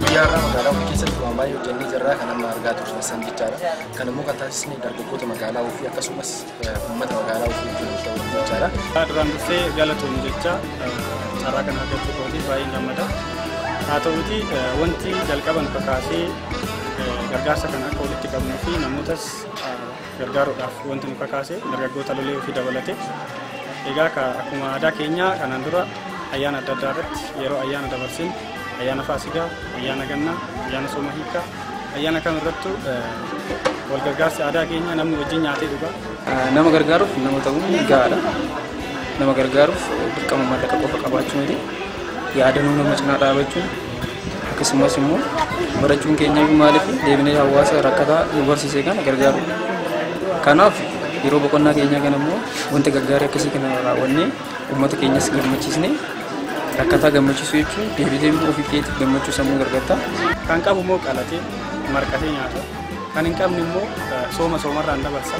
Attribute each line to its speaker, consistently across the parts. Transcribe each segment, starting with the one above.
Speaker 1: Guyyaa har'aa magaalaa ofii keessatti waan baay'ee hojjennee jirra kan amma argaa turtan san jechaadha. Kan immoo kan taasisne dargaggoota magaalaa ofii akkasumas uummata magaalaa ofii wajjin hojii ta'uu jechaadha. Duraan dursee
Speaker 2: galatoom jecha carraa kana argachuu kootiif baay'een gammada. Haa ta'uuti wanti jalqaba nu kakaasee gargaarsa kana akka walitti qabnuu fi namootas gargaaruudhaaf wanti nu kakaase dargaggoota lolee ofii dabalate egaa ka akkuma aadaa keenyaa kanaan dura ayyaana adda addaa irratti yeroo ayyaana dabarsin ayyaana faasigaa ayyaana gannaa ayyaana sooma hiikaa ayyaana kam irrattu wal gargaarsi aadaa keenya namni wajjin nyaatee dhugaa nama gargaaruuf
Speaker 3: nama ta'uun gahaadha nama gargaaruuf dirqama mallaqa qofa qabaachuu miti yaadanuu nama cinaa dhaabachuun Akkasumas immoo barachuun keenya iyyuu maaliif deebinee hawaasa rakkataa nu barsiise kana gargaaru. Kanaaf yeroo boqonnaa keenyaa kana immoo wanta gaggaarii akkasii kana raawwannee uummata keenyas gammachiisnee rakkataa gammachiisuu jechuun deebitee immoo ofii keetiif gammachuu sammuu argatta. Kan qabu immoo
Speaker 2: qalatee marqatee nyaata. Kan hin qabne immoo sooma soomarraan dabarsa.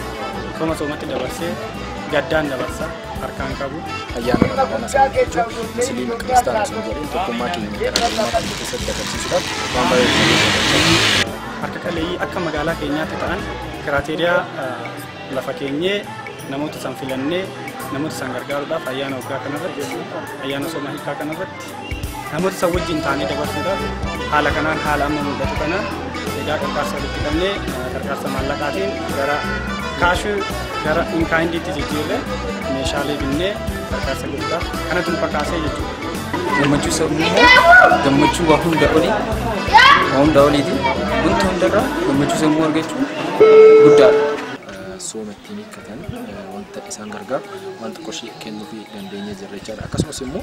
Speaker 2: Sooma soomatti dabarsee gaddaan dabarsa. harkaan qabu ayyaana ramadana sana
Speaker 1: jechuun musliim kiristaana sun jedhee tokkummaa keenya garaagarummaa kan keessatti agarsiisuudhaaf waan baay'ee harka qaleeyyii
Speaker 2: akka magaalaa keenyaatti ta'an kiraateeriyaa lafa keenyee namoota san filannee namoota san gargaaruudhaaf ayyaana waggaa kanarratti ayyaana sooma hiikaa kanarratti Namoota isa wajjin taanee dabarsuudhaaf haala kanaan haala amma mul'atu kanaan egaa qarqaarsa walitti qabnee qarqaarsa maallaqaatiin gara kaashuu gara inkaayindiitti jijjiirre meeshaalee binnee qarqaarsa gochuudhaaf kanatu nu kakaasee jechuudha. Gammachuu sabni
Speaker 3: immoo gammachuu waa hunda olii waa hunda oliiti wanta hundarraa gammachuu sammuu argachuun guddaadha. sooma
Speaker 1: ittiin hiikkatan wanta isaan gargaaru wanta qarshii kennuufii dandeenye jirra jechaadha. Akkasumas immoo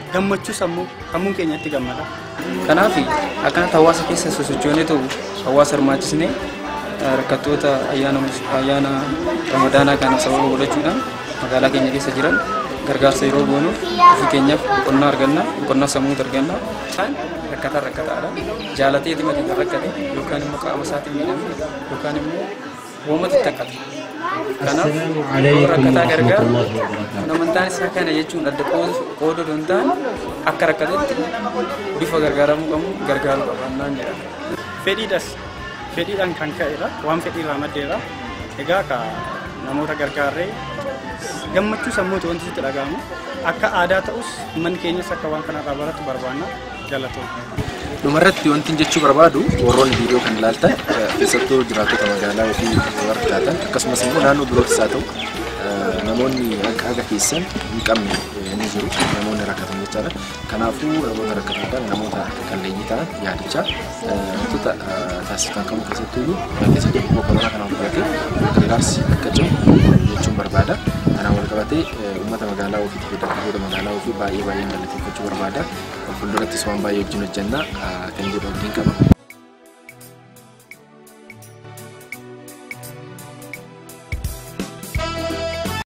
Speaker 2: Gammachuu sammuu sammuun keenya itti gammada. Kanaaf
Speaker 3: akkanatti hawaasa keessa sosochoonee ta'u hawaasa hirmaachisnee rakkattoota ayyaana ramadaanaa kana sababa godhachuudhaan magaalaa keenya keessa jiran gargaarsa yeroo goonuuf ofii keenyaaf boqonnaa arganna boqonnaa sammuus arganna. Isaan rakkataan rakkataadha. Jaalatee dhimma kan rakkate yookaan immoo qaama isaatiin miidhame yookaan immoo Uumamatti hin takkatu. Kanaaf yoo rakkataa gargaaru kun amantaan isaa kana jechuun adda qooduu hin taane akka rakkatutti bifa gargaaramuu qabu gargaaruu qabannaan jedha. Fedhiidhas fedhiidhaan
Speaker 2: kan ka'edha waan fedhiirraa maddeedha. Egaa ka namoota gargaarree gammachuu sammuuti wanti sitti dhaga'amu akka aadaa ta'us manni keenyas akka waan kanarraa baratu barbaanna. Galatoomi. Dhumarratti
Speaker 1: wantin jechuu barbaadu warroonni viidiyoo kan ilaaltan eh, keessattuu jiraattota magaalaa ofii warra taatan akkasumas immoo naannoo birootis haa ta'u eh, namoonni akka haga keessan hin qabne eh, ni jiru namoonni rakkatan jechaadha. Kanaafuu namoota rakkatan kana namoota qalleeyyii ta'an yaadachaa eh, wantoota eh, taasifaman kamuu keessattuu iyyuu eh, keessattuu dhukkuba koronaa kana hordofee gargaarsi akka cimu jechuun barbaada. Kanaan wal qabatee eh, uummata magaalaa ofii fi dargaggoota magaalaa ofii baay'ee baay'een galateeffachuu barbaada. Fuuldurattis waan baay'ee wajjin hojjenna kan jedhu abdiin qaba.